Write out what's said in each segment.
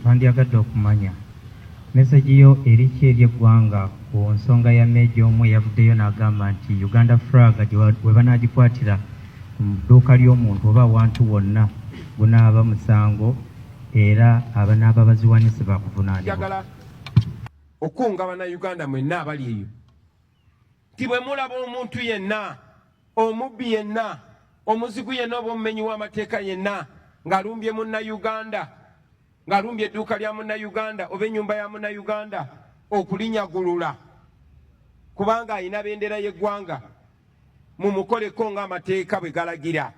Twandyagadde okumanya message yo eri ki eri eggwanga ku nsonga ya Major omu eyavuddeyo nagamba nti Uganda Fraga webanagikwatira ku dduuka ly'omuntu oba awantu wonna gunaaba musango era abanaaba baziwanise bakuvunaanibwa. Njagala okukunga banauganda mwenna abali eyo nti bwe mulaba omuntu yenna omubbi yenna omuzigu yenna oba omumenyi w'amateeka yenna ng'alumbye munnayuganda ng'alumbye edduuka lya munnayuganda oba ennyumba ya munnayuganda okulinyagulula kubanga alina bendera y'eggwanga mumukoleko ng'amateeka bwe galagira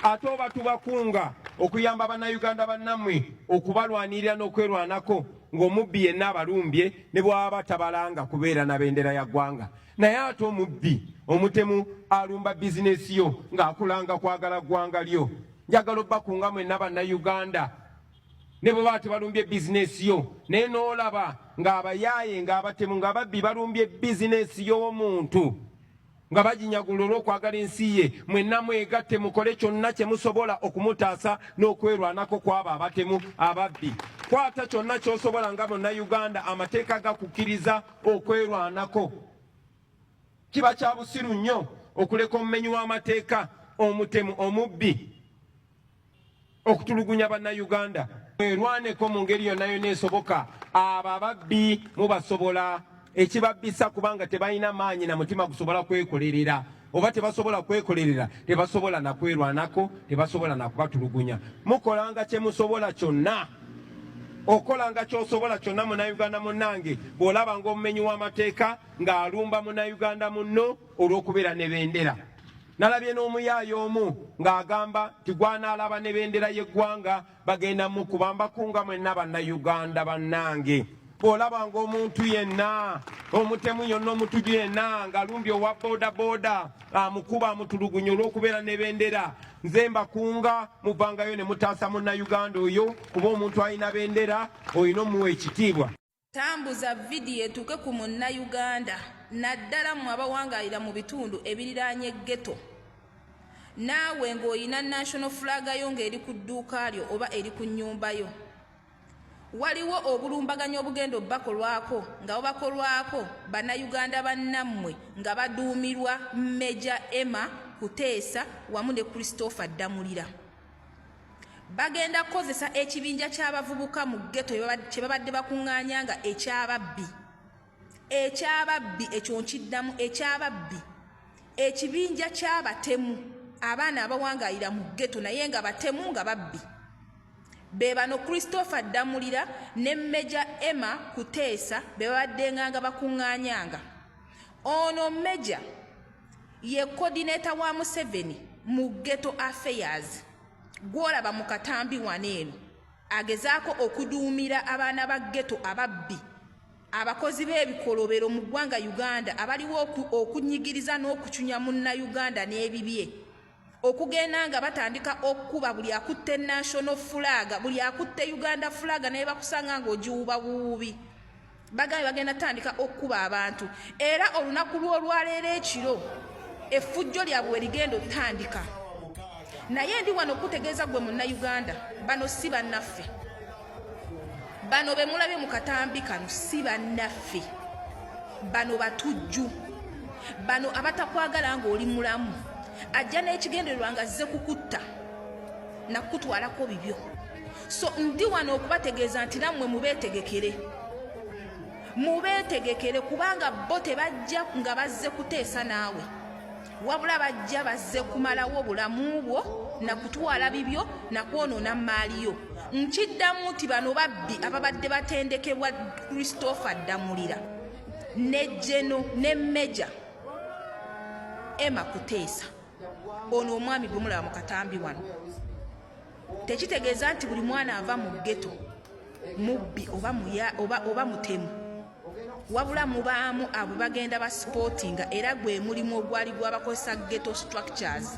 ate oba tubakunga okuyamba bannayuganda bannammwe okubalwanirira n'okwerwanako ng'omubbi yenna abalumbye ne bwaba tabalanga kubeera na bendera ya ggwanga naye ate omubbi omutemu alumba bizinesi yo ng'akulanga kwagala ggwanga lyo njagala obbakunga mwenna bannayuganda ne bwe baba tebalumbye bizinesi yo naye n'olaba ng'abayaaye ng'abatemu ng'ababbi balumbye bizinesi y'omuntu nga baginyagula olw'okwagala ensi ye mwenna mwegatte mukole kyonna kye musobola okumutaasa n'okwerwanako kw'abo abatemu ababbi kwata kyonna ky'osobola nga munnayuganda amateeka gakukkiriza okwerwanako kiba kya busiru nnyo okuleka omumenyi w'amateeka omutemu omubbi okutulugunya bannayuganda mwerwaneko mu ngeri yonna yonna esoboka abo ababbi mubasobola ekibabbisa kubanga tebalina maanyi na mutima gusobola kwekolerera oba tebasobola kwekolerera tebasobola nakwerwanako tebasobola nakubatulugunya mukolanga kyemusobola kyonna okolanga kyosobola kyonna munauganda munnange bw'olaba ngaomumenyi w'amateeka ng'alumba munauganda munno olw'okubeera ne bendera Nalabye n'omuyaaye omu ng'agamba nti gwanaalaba ne bendera y'eggwanga bagenda mukuba mbakunga mwenna bannayuganda bannange bw'olaba ng'omuntu yenna omutemu yonna omutuju yenna ng'alumbye owa boodabooda amukuba amutulugunya olw'okubeera ne bendera nze mbakunga muvangayo ne mutaasa munnayuganda oyo kuba omuntu alina bendera olina omuwa ekitiibwa Tambuza vidiyo etuuke ku Munnayuganda naddala mmwe abawangaalira mu bitundu ebiriraanye ghetto. Naawe ng'olina National Flag yo ng'eri ku dduuka lyo oba eri ku nnyumba yo. Waliwo obulumbaganyi obugenda obubakolwako nga bubakolwako Bannayuganda bannammwe nga baduumirwa Major Emma Kuteesa wamu ne Christopher Ddamulira. Bagenda kukozesa ekibinja ky'abavubuka mu ggeto kye babadde bakuŋŋaanya nga eky'ababbi. Eky'ababbi ekyo nkiddamu eky'ababbi. Ekibinja ky'abatemu abaana abawangaalira mu ggeto naye nga batemu nga babbi. Be bano Christopher Ddamulira ne Meja Emma Kuteesa be babaddenganga bakuŋŋaanyanga. Ono Meja Ye coordinator wa Museveni mu ghetto affairs gwolaba mu katambi wano eno agezaako okuduumira abaana ba ghetto ababbi abakozi b'ebikolobero mu ggwanga Uganda abaliwo okunyigiriza n'okucunya munnayuganda n'ebibye. okugenda nga batandika okukuba buli akutte national flag buli akutte uganda flag naye bakusanga nga ogiwuba buwubi bagambye bagenda tandika okukuba abantu era olunaku lw'olwaleero ekiro effujjo lyabwe werigenda otandika naye ndi wano okutegeeza gwe munnauganda bano si bannaffe bano bemulabye mu katambi kano si bannaffe bano batujju bano abatakwagala ng'oli mulamu ajja n'ekigendererwa nga zze kukutta nakukutwalako bibyo so ndi wano okubategeeza nti nammwe mubeetegekere mubeetegekere kubanga bo tebajja nga bazze kuteesa naawe wabula bajja bazze kumalawo bulamu bwo na kutwala bibyo na kwonoona mmaali yo nkiddamu nti bano babbi ababadde batendekebwa christopher ddamulira ne jeno ne meja ema kuteesa ono omwami gwe mulaba mu katambi wano tekitegeeza nti buli mwana ava mu geto mubbi oba muya oba oba mutemu wabula mubaamu abo bagenda ba supportinga era gwe mulimu ogwali gwabakozesa geto structures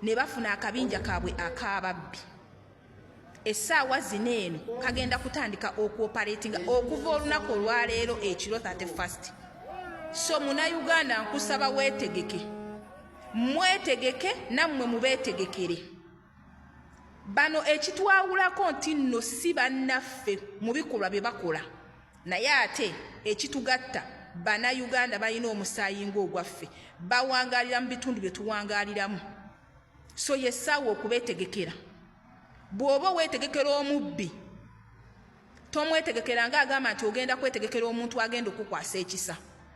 ne bafuna akabinja kaabwe akababbi essaawa zino eno kagenda kutandika okuoperatinga okuva olunaku olwaleero ekiro 31 so munauganda nkusaba weetegeke mwetegeke nammwe mubeetegekere bano ekitwawulako nti nno si bannaffe mu bikolwa bye bakola naye ate ekitugatta bannayuganda balina omusaayi ng'ogwaffe bawangalira mu bitundu bye tuwangaliramu so yessaawa okubeetegekera bw'oba oweetegekera omubbi tomwetegekera nga agamba nti ogenda kwetegekera omuntu agenda okukwasa ekisa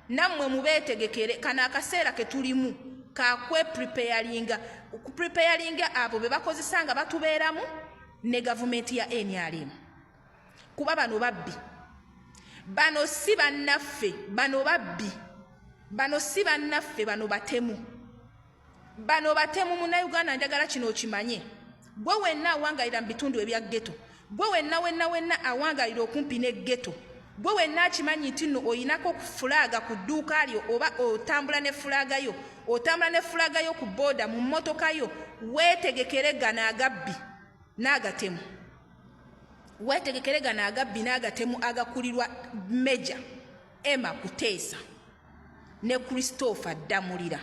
nammwe mubeetegekere kano akaseera ke tulimu kakwe preparinga okupreparinga abo be bakozesa nga batubeeramu ne gavumenti ya nrm kuba bano babbi bano si bannaffe bano babbi bano si bannaffe bano batemu Bano batemu munauganda njagala kino okimanye gwe wenna awangalira mu bitundu ebya ghetto gwe wenna wenna wenna awangalira okumpi ne ghetto gwe wenna akimanyi nti nno oyinako fulaaga ku dduuka lyo oba otambula ne fulaaga yo otambula ne fulaaga yo ku booda mu mmotoka yo weetegekere gano agabbi n'agatemu weetegekere gano agabbi n'agatemu agakulirwa meja ema kuteesa ne Christopher Ddamulira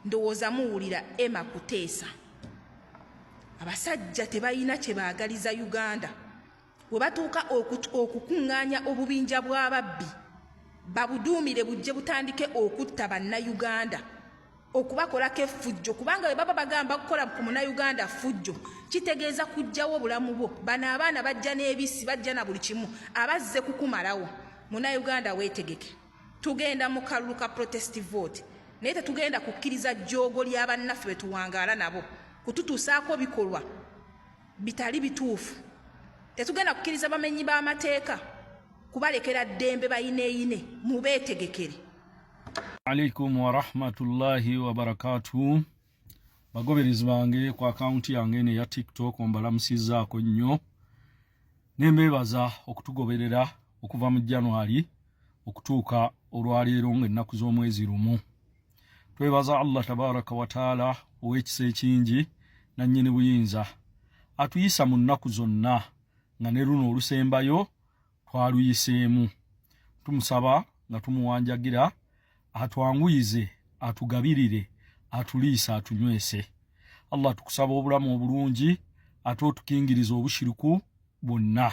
ndowooza muwulira Emma Kuteesa abasajja tebalina kye baagaliza Uganda we batuuka okukuŋŋaanya obubinja bw'ababbi babuduumire bujje butandike okutta Bannayuganda okubakolako effujjo kubanga webaba bagamba kukola ku munauganda ffujjo kitegeeza kujjawo obulamu bwo bano abaana bajja n'ebisi bajja na buli kimu abazze kukumalawo munauganda weetegeke tugenda mu kalulu ka protest vote naye tetugenda kukkiriza jjoogo ly'abannaffe betuwangaala nabo kututuusaako bikolwa bitali bituufu tetugenda kukkiriza bamenyi b'amateeka kubalekera ddembe bayineeyine mubeetegekere alaikum warahmatullahi wabarakatuh bagoberezi bange ku akawunti yange eno eya tiktok mbalamusizaako nnyo nembeebaza okutugoberera okuva mu january okutuuka olwaleero ngaennaku z'omwezi lumu twebaza allah tabaraka wataala ow'ekisa ekingi nannyini buyinza atuyisa mu nnaku zonna nga ne luno olusembayo twaluyiseemu tumusaba nga tumuwanjagira atwanguyize atugabirire atuliisa atunywese allah tukusaba obulamu obulungi ate otukingiriza obushiriku bwonna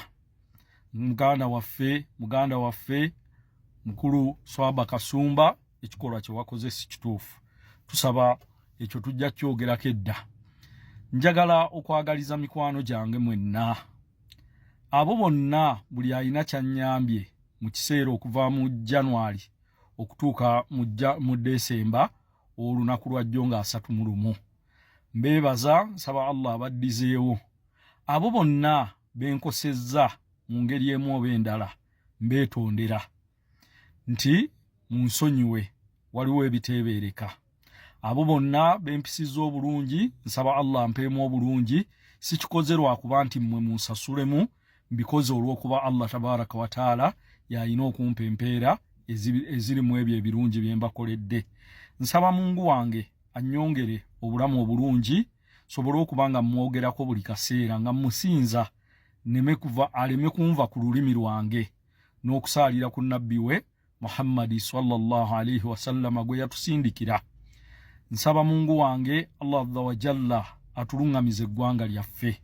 muganda waffe muganda waffe mukulu swaba kasumba ekikolwa kyewakoze si kituufu tusaba ekyo tujja kyogerako edda njagala okwagaliza mikwano gyange mwenna abo bonna buli alina kyanyambye mu kiseera okuva mu january okutuuka mu desemba olunaku lwajjo nga asatu mu lumu mbeebaza nsaba allah abaddizeewo abo bonna benkosezza mu ngeri emu oba endala mbeetondera nti munsonyiwe waliwo ebiteebeereka abo bonna bempisizza obulungi nsaba allah mpeemu obulungi sikikoze lwakuba nti mmwe munsasulemu mbikoze olw'okuba allah tabaraka wataala yalina okumpa empeera eziri mu ebyo ebirungi bye mbakoledde nsaba mungu wange annyongere obulamu obulungi sobole okuba nga mmwogerako buli kaseera nga mmusinza neme kuva aleme kunva ku lulimi lwange n'okusaalira ku nabbi we muhammadi salllah alaihi wasallama gwe yatusindikira nsaba mungu wange allah azza wajalla atuluŋŋamiza eggwanga lyaffe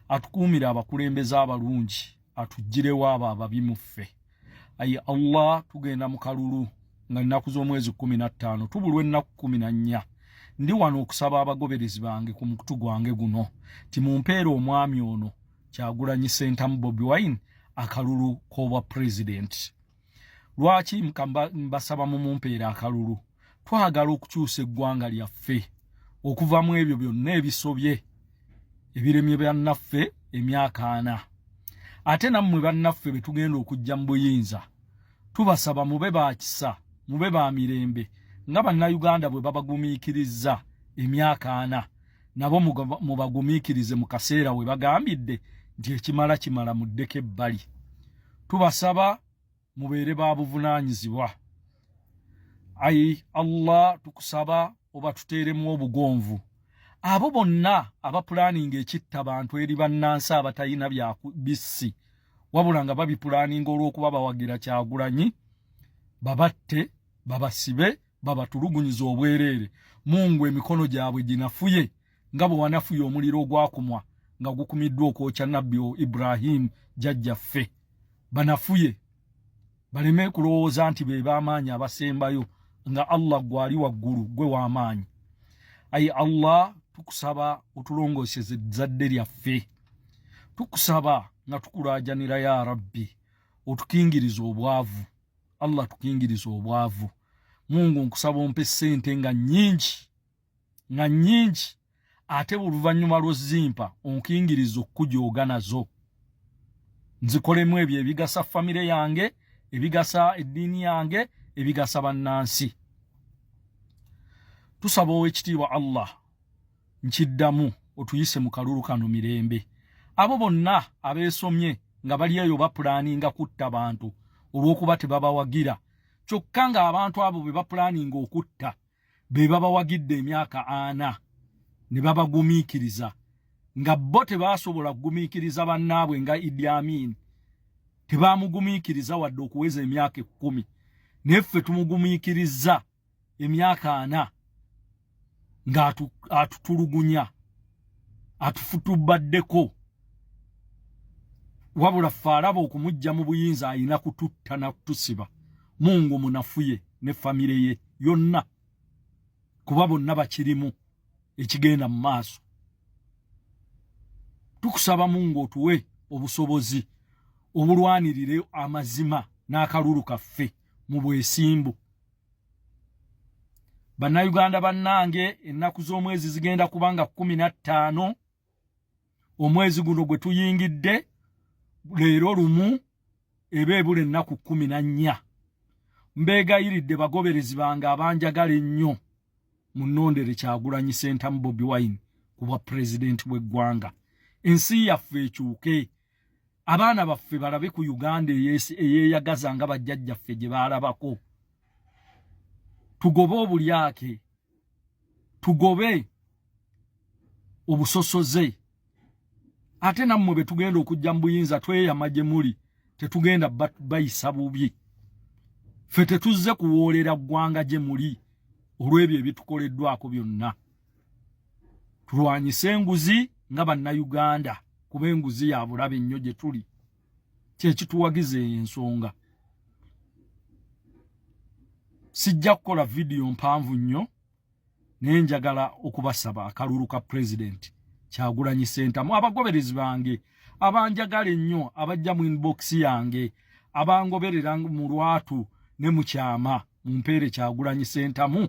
atukuumire abakulembeze abalungi atuggirewo abo ababi mu ffe ayi allah tugenda mu kalulu nga nnaku z'omwezi kumi na ttaano tubulwa ennaku kumi na nnya ndi wano okusaba abagoberezi bange ku mukutu gwange guno timumpeera omwami ono kyagulanyi sentamu bobi wine akalulu kobwa president lwaki mbasaba mumumpeera akalulu twagala okukyusa eggwanga lyaffe okuva mu ebyo byonna ebisobye ebiremye byannaffe emyaka ana ate nammwe bannaffe be tugenda okujja mu buyinza tubasaba mube ba kisa mube ba mirembe nga bannayuganda bwe babagumiikirizza emyaka ana nabo mubagumiikirize mu kaseera we bagambidde nti ekimala kimala muddeko ebbali tubasaba mubeere ba buvunaanyizibwa ayi allah tukusaba oba tuteeremu obugonvu abo bonna abapulaaninga ekitta bantu eri bannansi abatalina byabissi wabula nga babipulaaninga olw'okuba bawagira kyagulanyi babatte babasibe babatulugunyiza obwereere mungu emikono gyabwe ginafuye nga bwe wanafuye omuliro ogwakumwa nga gukumiddwa okwokya nabbi o ibrahimu jajjaffe banafuye baleme kulowooza nti be b'amaanyi abasembayo nga allah gwali waggulu gwe w'amaanyi ayi allah tukusaba otulongooseze ezzadde lyaffe tukusaba nga tukulaajanira ya rabbi otukingiriza obwavu allah tukingiriza obwavu mungu nkusaba ompe sente nga nyingi nga nyingi ate oluvanyuma lwozimpa onkingiriza okukujooga nazo nzikolemu ebyo ebigasa famire yange ebigasa eddiini yange ebigasa bannansi tusaba owekitiibwa allah nkiddamu otuyise mu kalulu kano mirembe abo bonna abeesomye nga bali eyo bapulaaninga kutta bantu olw'okuba tebabawagira kyokka ng'abantu abo be bapulaaninga okutta be babawagidde emyaka ana ne babagumiikiriza nga bo tebaasobola kugumiikiriza bannaabwe nga idi amiini tebaamugumiikiriza wadde okuweza emyaka ekkumi naye ffe tumugumiikirizza emyaka ana nga atutulugunya atufutubaddeko wabula ffe alaba okumujja mu buyinza alina kututta nakutusiba mungu munafuye ne famire ye yonna kuba bonna bakirimu ekigenda mu maaso tukusaba mungu otuwe obusobozi obulwanirire amazima n'akalulu kaffe mu bwesimbu bannayuganda bannange ennaku z'omwezi zigenda kuba nga kumi na ttaano omwezi guno gwe tuyingidde leero lumu eba ebula ennaku kumi na nnya mbeegayiridde bagoberezi bange abanjagala ennyo munondere kyagulanyi sentamu bobi wine ku bwa pulezidenti bw'eggwanga ensi yaffe ekyuke abaana baffe balabe ku uganda eyeyagaza nga bajjajjaffe gye baalabako tugobe obulyake tugobe obusosoze ate nammwe be tugenda okujja mu buyinza tweyama gye muli tetugenda bayisa bubi ffe tetuzze kuwoolera ggwanga gye muli olw'ebyo ebitukoleddwako byonna tulwanyise enguzi nga bannayuganda kuba enguzi ya bulabe nnyo gye tuli kyekituwagiza ensonga sijja kukola vidiyo mpanvu nnyo naye njagala okubasaba akalulu ka pulezidenti kyagulanyi sentamu abagoberezi bange abanjagala ennyo abajja mu inbox yange abangoberera mu lwatu ne mu kyama mumpeere kyagulanyi sentamu